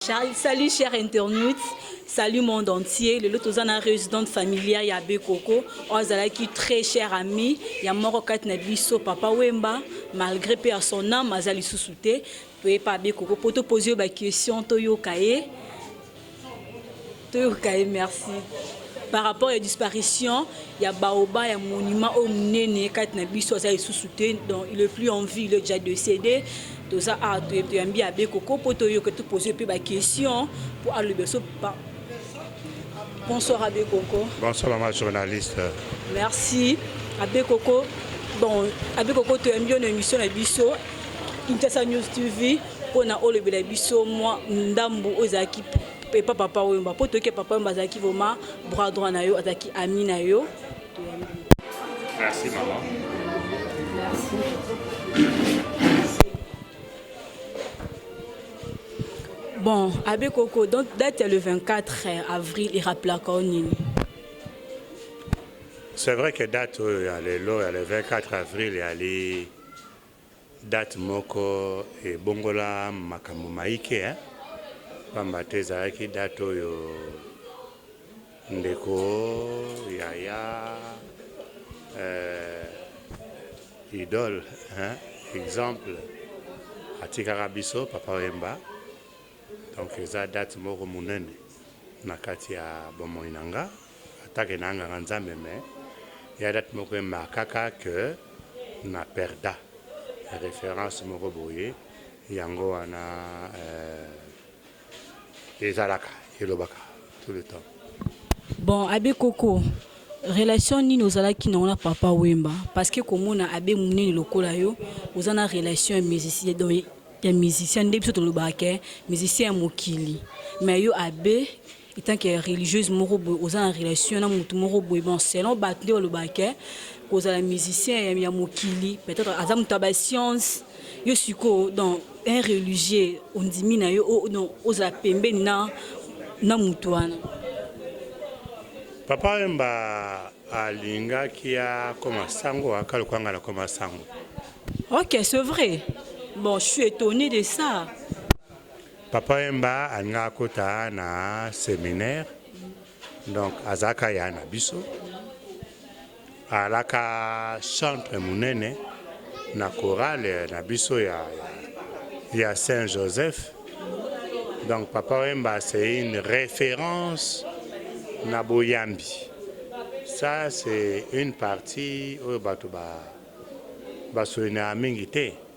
Charles, salut chers internautes, salut monde entier. Lelo toza na résidente familiale ya Bekoko, ozalaki très cher ami ya moko kati na biso papa Wemba, malgré pe à son âme aza lisusu te, toyepa Bekoko po to poser ba questions toyoka ye. Toyoka ye merci. Par rapport ya disparition ya baoba ya monument oyo monene kati na biso aza lisusu te donc il est plus en vie il est déjà décédé toza awa toyambi ya bekoko mpo toyoka topose mpe baquestion mpo aloba so bonsoir abe koko bonsoir ma journaliste merci abe koko bon abe koko toyambi yo na émission na biso intesa news tv mpo na olobela biso mwa ndambo oyo ezalaki epa papa oyomba po toyeke papa oyomba azalaki vrema bras droit na yo azalaki ami na yo merci mama merci bon abe koko donc date ya le 24 eh, avril eraplaka o nini c'est vrai que date oyo ya lelo ya le 24 avril yali Date moko ebongola makambo maike hein, pamba te ezalaki date oyo ndeko yaya euh, idole hein, exemple atikaka biso papa Wemba, donc eza date moko munene na kati ya bomoi na nga. Attaque na nganga nzambe mais ya date moko emarkaka que na perda reference moko boye yango wana euh, ezalaka elobaka tout le temps bon abe koko relation nini ozalaki nango na papa wemba parce que komona abe munene lokola yo oza na relation ya musicien donc ya musicien nde biso tolobaka ke musicien ya mokili mais yo abe etant que religieuse moko boye oza na relation na motu moko boye bon selon bato nde balobaka ke kozala musicien ya mokili peut-être aza moto ya bascience yo sikoyo donc un religieux ondimi na yo donc ozala pembeni na na motu wana papa wemba alingaki akoma sango aka lokola ngai nakoma sango ok c'est vrai bon je suis étonné de ça Papa Wemba alingaka akota na seminaire donc azalaka ya na biso alaka chantre munene na chorale na biso ya, ya Saint Joseph donc Papa Wemba c'est une référence na boyambi ça c'est une partie oyo bato ba basolinaka mingi te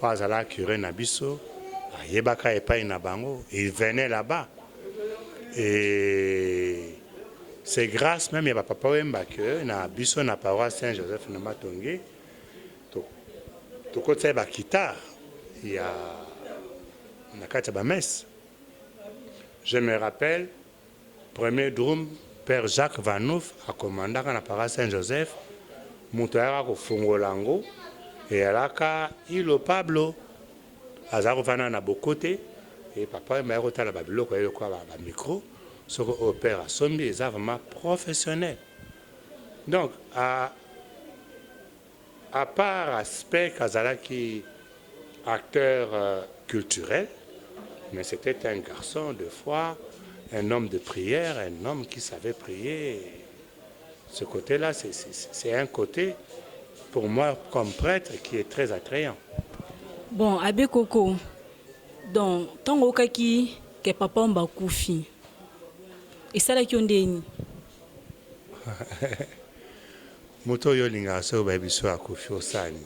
Oyo azalaka cure na biso ayebaka epai na bango il venait là bas et c'est grâce même ya ba papa Wemba que na biso na paroisse Saint Joseph na Matonge tokotisa ye ba guitare ya na kati ya ba messe je me rappelle Premier Drum Père Jacques Vanhouf a commandaka na Paroisse Saint Joseph, mutu ayaka ko fongola yango eyalaka Ilo Pablo, azalaka ko fanda na Bokote et Papa Wemba ayaki ko tala ba biloko naye lokola ba micro, soki oyo Père asombi eza vraiment professionnel donc a A part aspect qu'azalaki acteur culturel mais c'etait un garçon de foi, un homme de prière, un homme qui savait prier, ce cote là c'est un cote pour moi comme pretre qui est très attrayant. Bon Abbe Koko, donc tango oyokaki ke Papa Wemba akufi esalaki yo ndenge nini? Moto oyo olingaka soki bayebi soki akufi osani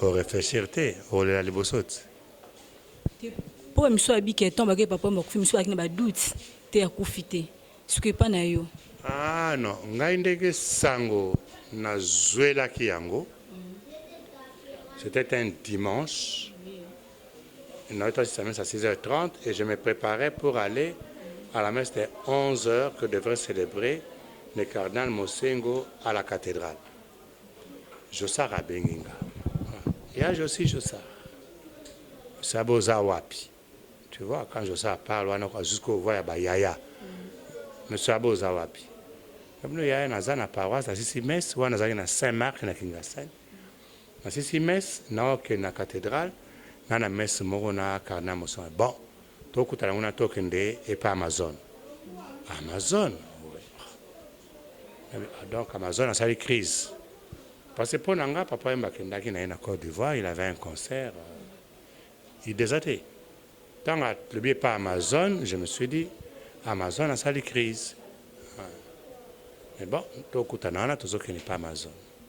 o reflechir te okolela liboso te. Te po ba misusu abiki ya temps bakeyi papa bakufi misusu bazalaki na ba doute te akufi te sikoyo epa na yo. Ah non ngai ndenge sango na zuelaki yango c'etait un dimanche. Nautaki sa messe à 6h30 et je me preparais pour aller à la messe de 11h que devrait celebrer le cardinal Mosengwo à la cathedrale. Jossart abengi nga. Ya Jossi Jossart. Sabe oza wapi? Tu vois quand Jossart parle wana kwa jusqu'au voix ya ba yaya. Mais sabe oza wapi? Kabino yaya naza na paroisse nasisi messe wana nazalaki na Saint Marc na Kingasani. Nasisi messe nao kende na cathedrale na na messe moko na cardinal Musone bon to kutana kuna to kende epa Amazone Amazone ah, donc Amazone asali crise parce que pona nga papa yemba akendaki na ye na Cote d'Ivoire il avait un concert euh, il desate tango alobi epa Amazone je me suis dit Amazone asali crise ah. mais bon tokutana wana tozokende epa Amazone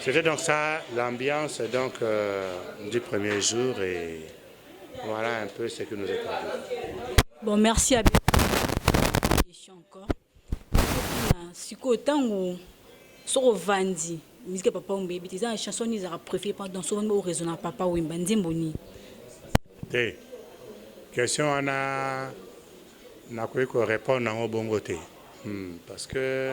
C'était donc ça l'ambiance donc euh, du premier jour et voilà un peu ce que nous est parlé. Bon merci à question encore. Siko tango soko vandi musique papa ombe ebiti eza chanson ni ezaka préféré pendant so wani oraisonna papa wemba nzembo nini te question wana nakoki korépondre yango bongo te hmm, parce que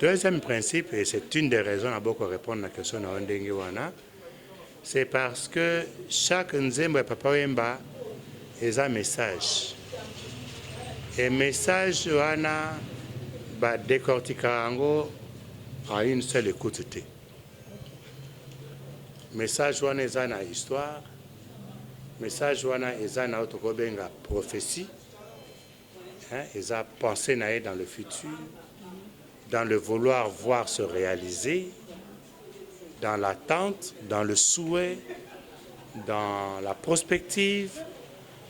Deuxième principe et c'est une des raisons na boko repondre na question na yo ndenge wana c'est parce que chaque nzembo ya Papa Wemba eza message et message wana ba décortiquer yango à une seule écoute te message wana eza na histoire message wana eza na oyo tokobenga prophétie Hein, eza pensee na ye dans le futur, dans le vouloir voir se realiser, dans l'attente, dans le souhait, dans la prospective.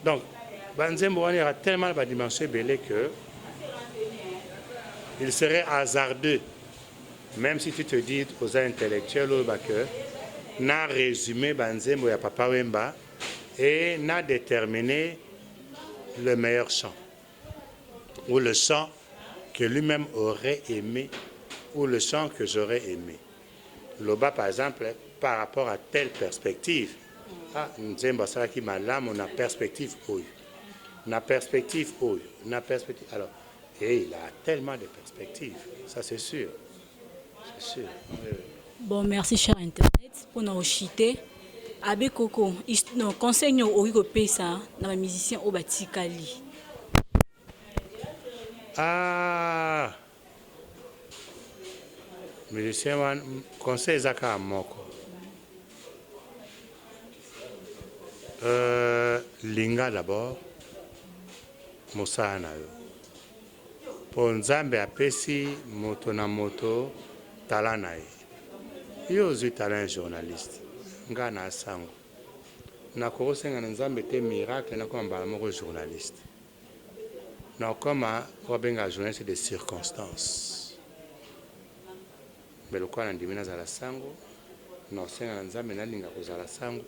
Donc, banzembo wana eza tellement na badimension ebele que il serait hasardeux même si tu te dis aux intellectuels oyo ba que na résumé banzembo ya papa wemba et na déterminer le meilleur chant ou le chant que lui-même aurait aimé ou le chant que j'aurais aimé. Loba par exemple par rapport à telle perspective. Ah, nzembo asalaki malamu na perspective oyo. Na perspective oyo, na perspective. Alors, et il a tellement de perspectives, ça c'est sûr. Bon merci cher internet pour na ochite Abbé Koko non conseil nyo oki ko pesa na ba musiciens oyo batikali. Ah musicien wana conseil eza kaka moko euh, linga d'abord mosala na yo Po Nzambe apesi moto na moto talent na ye. Yo ozui talent ya journaliste, nga na Asango nakoko senga na Nzambe te miracle nakoma mbala moko journaliste. Nakokoma oyo babengaka journaliste de circonstance. Mais lokola na ndimi nazala sango nao senga na nzambe na linga kozala sango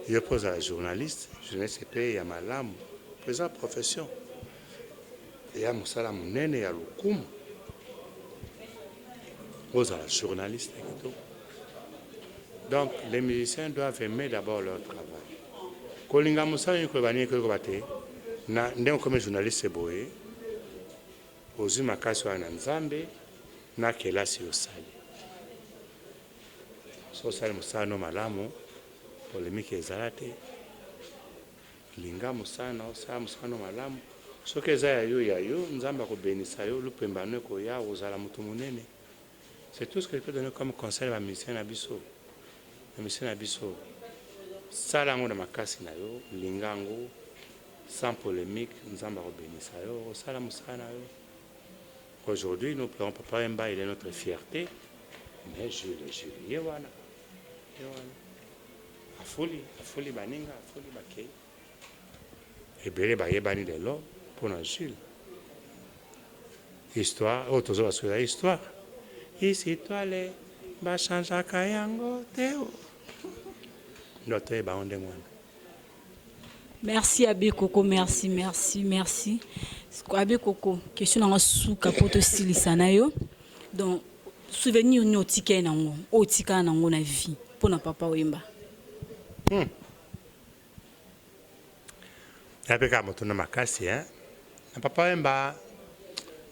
yo pe ozala journaliste journaliste pe ya malamu po eza profession eya mosala monene ya lokumu ozala journaliste kitoko donc les musiciens doivent aimer d'abord leur travail kolinga mosala nini koyeba nini koyekoba te na ndenge okomi journaliste boye Ozui makasi wana na nzambe na kelasi osali soki osali mosala no malamu polemique ezala te linga mosala na osala mosala no malamu soki eza ya yo ya yo nzambe akobenisa yo lupemba no ekoya ozala moto monene C'est tout ce que je peux donner comme conseil na ba musiciens na biso, ba musiciens na biso sala yango na makasi na yo, linga yango sans polemique, Nzambe ako benisa yo, osala musala na yo. Aujourd'hui nous pleurons Papa Wemba, il est notre fierté, mais Jules, Jules ye wana, ye wana afuli, afuli baninga, afuli bakeyi. ebele bayebani lelo mpo na Jules. Histoire oyo tozo basuela histoire isi toile bachangeaka yango te ndo toyeba yango ndenge wana. Merci Abe Koko, merci, merci, merci. Abe Koko, question nanga suka po tosilisa na yo. Donc souvenir nini otika ye nango? Otika nango na vie mpo na papa Wemba. Hmm. Napeka motuna makasi hein. Na papa Wemba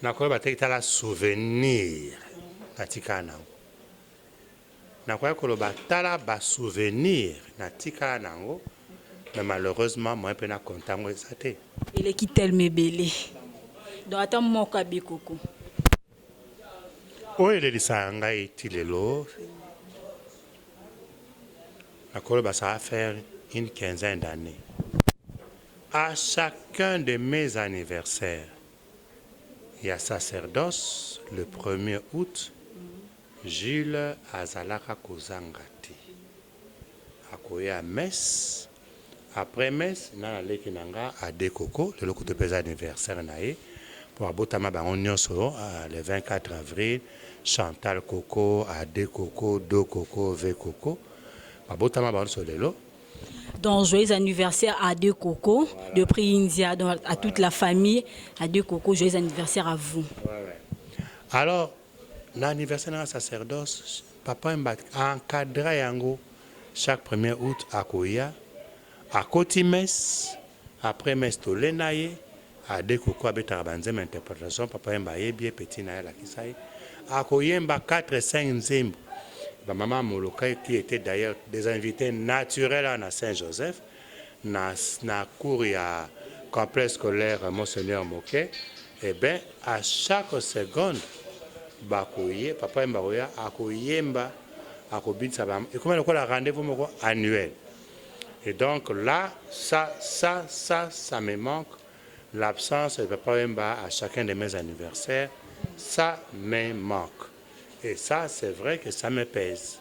nakoyeba te kitala souvenir natikala nango. Nakoya koloba tala ba souvenir natikala nango mais malheureusement moyen pe na compte yango eza te. Eleki tellement ebele donc ata moko abiko ko. Oyo elelisaka ngai ti lelo nakoloba ça va faire une quinzaine d'annees à chacun de mes anniversaires ya sacerdoce le premier août Jules azalaka kozanga te akoya messe Après messe nga na leki na nga Ade Coco lelo kutu pe eza anniversaire na ye po abotama bango nionso le 24 avril Chantal Coco, Ade Coco, Do Coco, Ve Coco ba botama bango nionso lelo. Donc joyeux anniversaire à Ade Coco de Priinzia donc à toute la famille Ade Coco joyeux anniversaire à vous. Alors Na anniversaire nanga sacerdoce papa wemba a encadra yango chaque premier aout akoya akoti messe après messe tole naye a de coucou abetaka ba nzembo ya interpretation papa wemba ayebi ye petit naye alakisa ye akoyemba quatre cinq nzembo ba maman molokai qui etait d'ailleurs des invites naturels awa na saint joseph na na cour ya complexe scolaire Monseigneur Moke eh ben à chaque seconde bakoye papa yemba koya akoyemba akobinisa ba ekoma lokola rendez-vous moko annuel et donc là ça ça ça ça me manque l'absence de papa yemba à chacun de mes anniversaires ça me manque et ça c'est vrai que ça me pèse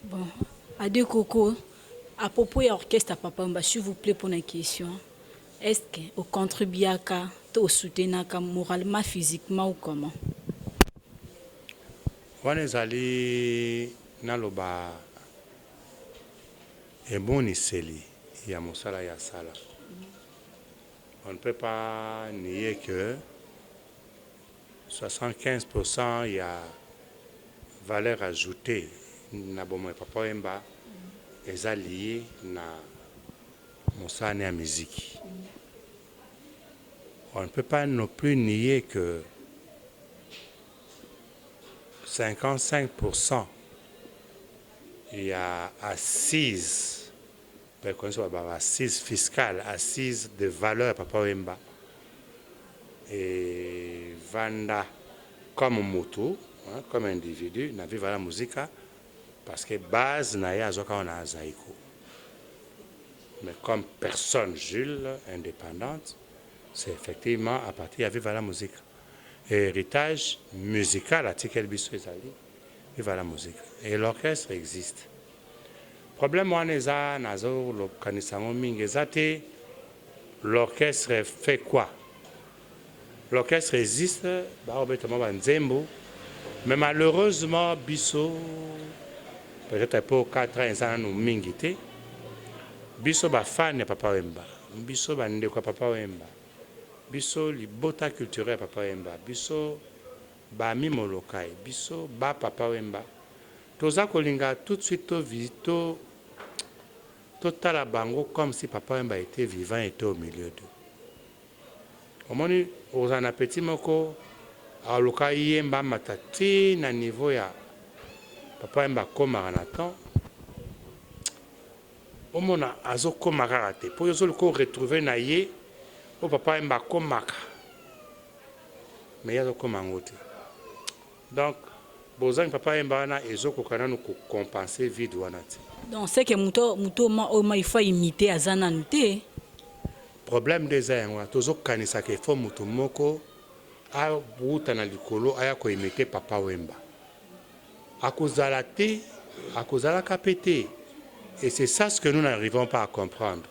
bon ade koko A propos ya orchestre ya Papa Wemba, s'il vous plait mpo na question, est ce que o contribuaka to o soutenaka moralement, physiquement ou comment? Wana ezali naloba emoniseli ya mosala ye asala. On ne peut pas nier que 75 pour cent ya valeur ajoute na bomoi ya Papa Wemba eza lie na mosala ne ya miziki. On ne peut pas non plus nier que 55 pour cent ya assise Preconise ba ba assises fiscales, assises de valeur ya papa Wemba e vanda comme mutu hein, comme individu na Viva la Musica parce que base na ye azwaka wana na Zaiko mais comme personne Jules independante c'est effectivement à partir ya Viva la Musica et heritage musical atikeli biso ezali Viva la Musica et l'orchestre existe. Problème wana eza nazo kanisa yango mingi eza te l'orchestre fait quoi? L'orchestre existe bao beta mwa ba nzembo mais malheureusement biso peut etre po 4 ans eza nanu mingi te biso ba fan ya papa wemba biso ba ndeko ya papa wemba biso libota culturel ya papa wemba biso ba mi molokai biso ba papa wemba Toza kolinga tout de suite to visi to to tala bango comme si papa wemba etait vivant et etait au milieu d'eux omoni okozala na petit moko aluka ayemba amata ti na niveau ya papa wemba akomaka na temps omona azo koma kaka te po yo ozo luka retrouver na ye o papa wemba akomaka mais ye azo koma yango te Donc bozangi papa yemba wana ezo koka nanu ko compenser vide wana te. Donc ce que moto moto oyo ma il faut imiter aza nanu te. Problème nde eza yango wana tozo kanisa que faut moto moko a wuta na likolo aya ko imiter papa wemba. Ako zala te, ako zalaka pe te. Et c'est ça ce que nous n'arrivons pas à comprendre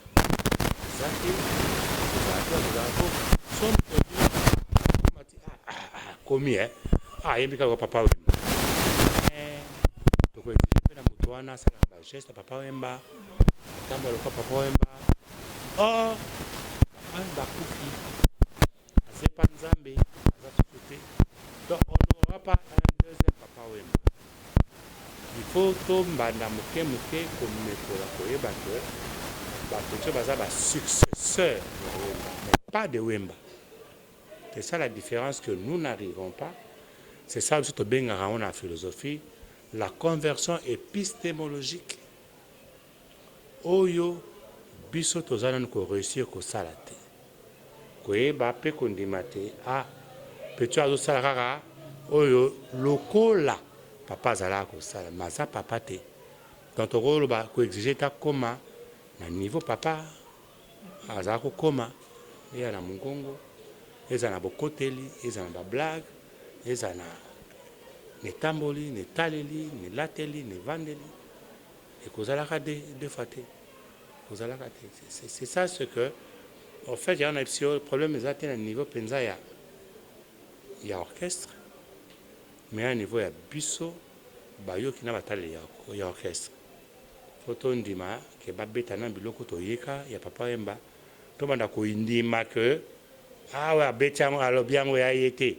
eza te kozala te kozala po somo mati ah, ah, ah, ah komi eh ah yembi kaka papa wemba eh toko exige pe na moto wana asala ba geste papa wemba atamba lokola papa wemba oh papa wemba akufi aza epa nzambe aza susu te donc on n'aura pas un deuxième papa wemba il faut tombanda moke moke komekola koyeba ke bato nso baza basuccesseur ya wemba mais pas de wemba c'est ça la différence que nous n'arrivons pas c'est ça biso tobengaka yango na philosophie la conversion épistémologique Oyo biso toza nanu ko reussir kosala te, koyeba pe kondima te a petit oyo azosala kaka oyo lokola papa azalaka kosala mais aza papa te donc tokoloba ko exige te akoma na niveau papa azalaka kokoma ezala na mongongo ezala na bokoteli ezala na ba blague ezala na etamboli na etaleli na elateli na evandeli Ekozalaka deux fois te ekozalaka te c'est ça ce que en fait yango nayebisi yo problème eza te na niveau penza ya ya orchestre mais na niveau ya biso bayoki na bataleli ya, ya orchestre po tondima ke babeta na biloko toyeka ya papa Wemba tobanda koindima ke awa ah abeti yango alobi yango ya ye te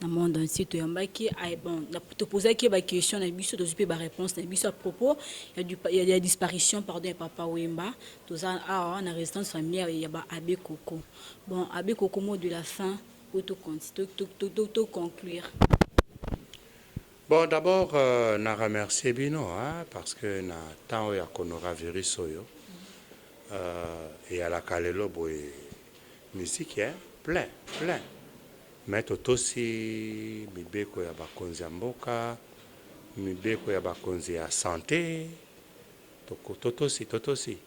na monde entier toyambaki ah, bon topozaki ye baquestion na biso tozwi mpe bareponse na biso à propos ya, ya disparition pardon ya papa wemba toza awa ah, na résidence familière ya ba abbé coco bon abbé coco mot de la fin oyo toconclure bon d'abord euh, na remercie bino hein, parce que na temps oyo ya coronavirus oyo euh, eyalaka lelo boye misiki hein, plein plein Mais totosi mibeko ya bakonzi ya mboka, mibeko ya bakonzi ya sante, totosi, totosi.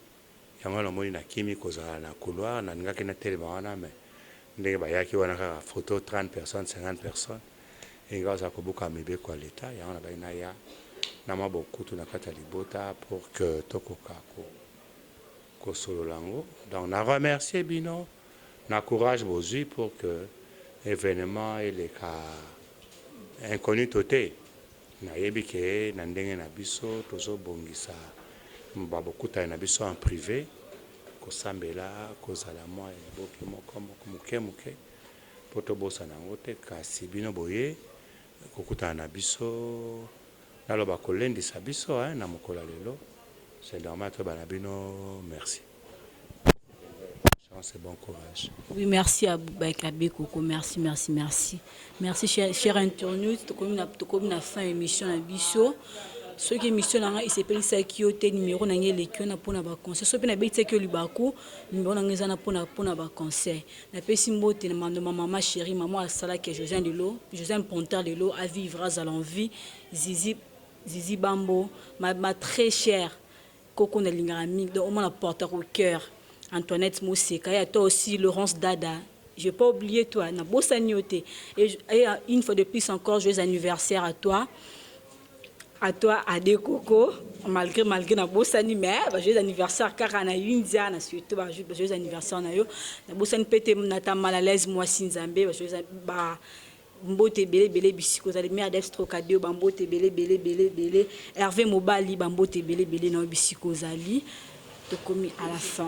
Yango wana omoni nakimi kozala na couloir, nalingaki natelema wana mais ndenge bayaki wana kaka photo 30 personnes, 50 personnes, elingi bazala kobuka mibeko ya l'Etat, yango nabandi naya na mwa bokutu na kati ya libota pour que tokoka kosolola yango. Donc na remercier bino. Na courage bozui pour que evenement eleka incognito te. Nayebi que na ndenge na biso tozo bongisa ba bokutani na biso en prive, kosambela kozala mua eboke moko muke muke po tobosana yango te. Kasi bino boye kokutana na biso, naloba kolendisa biso hein, na mokolo ya lelo, c'est normal toyebana bino merci. chance et bon courage. Oui, merci à Boubek Abbé Coco. Merci, merci, merci. Merci, cher, cher internaute. Tokomi na, tokomi na fin émission na biso. soki émission na ngai esepelisaki yo te nimero na ngai eleki wana mpo na baconseil soki mpe nabetisaki yo libaku nimero na ngai eza na mpo na baconseil napesi mbote na mandoma mama chéri mama asalaki ya josiane lelo josiane ponter lelo avivre azala en vie zizi zizi bambo ma, ma très chère Koko na lingaka mingi donc omona porte au cœur Antoinette Moseka ya toi aussi Laurence Dada je pas oublier toi na bosa niote et une fois de plus encore joyeux anniversaire à toi à toi Ade Koko malgré malgré na bosani mais ba joyeux anniversaire kaka na India na surtout ba joyeux anniversaire na yo na bosani pete na ta mal à l'aise moi si Nzambe ba joyeux ba Mbote ebele ebele bisika ozali merdes trocadio ba mbote ebele ebele ebele ebele Herve mobali ba mbote ebele ebele na yo bisika ozali tokomi à la fin.